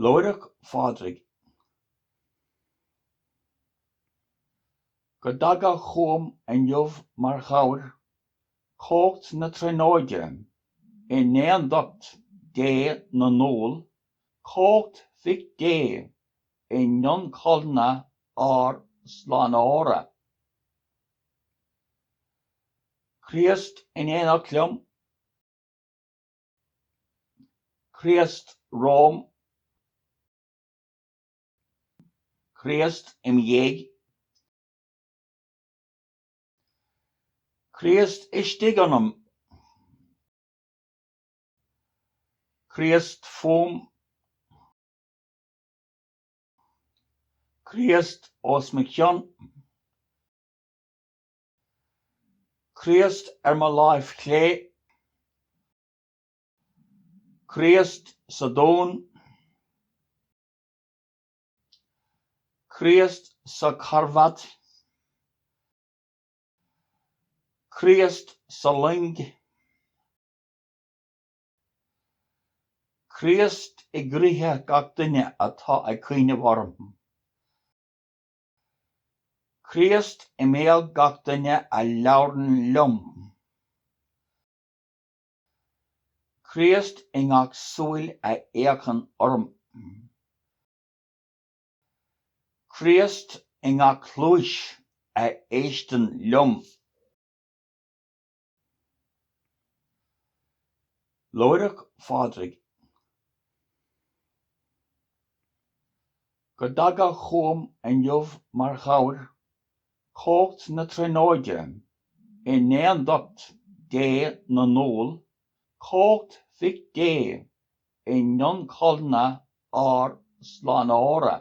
Lúireach Phádraig. Go dtaga chugam inniu mar chabhair cómhacht na Tríonóide i n-aondacht Dé na ndúl, cómhacht Mhic Dé i n-ioncholna ár Slánaitheora. Críost in aonacht liom. Críost romham, Críost im dhiaidh, Críost istigh ionam, Críost fúm, Críost os mo chionn. Críost ar mo láimh chlé, Críost sa dún, Críost sa charbad, Críost sa loing, Críost i gcroíthe gach duine atá ag cuimhneamh orm. Críost i mbéal gach duine a labhrann liom. Críost i ngach súil a fhéachann orm. Críost i ngach cluais a éisteann liom. Lúireach Phádraig. Go dtaga chugam inniu mar chabhair cumhacht na Tríonóide i n-aondacht Dé na ndúl, cumhacht Mhic Dé i n-ionchollna ár Slánaitheora.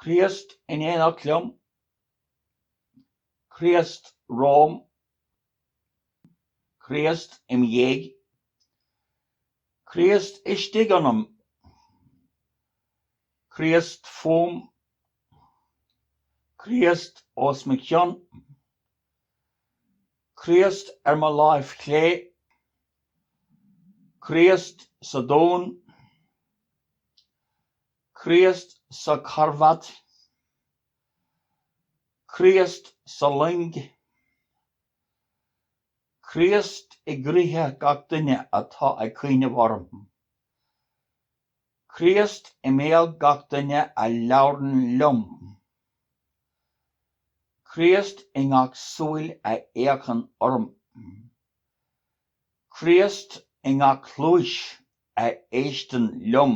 Críost in aonacht liom Críost romham, Críost im' dhiaidh, Críost istigh ionam, Críost fúm, Críost os mo chionn, Críost ar mo láimh chlé, Críost sa dún, Críost sa charbad, Críost sa loing. Críost i gcroidhe gach duine atá ag cuimhneamh orm. Críost i mbéal gach duine a labhrann liom. Críost i ngach súil a fhéachann orm. Críost i ngach cluais a éisteann liom.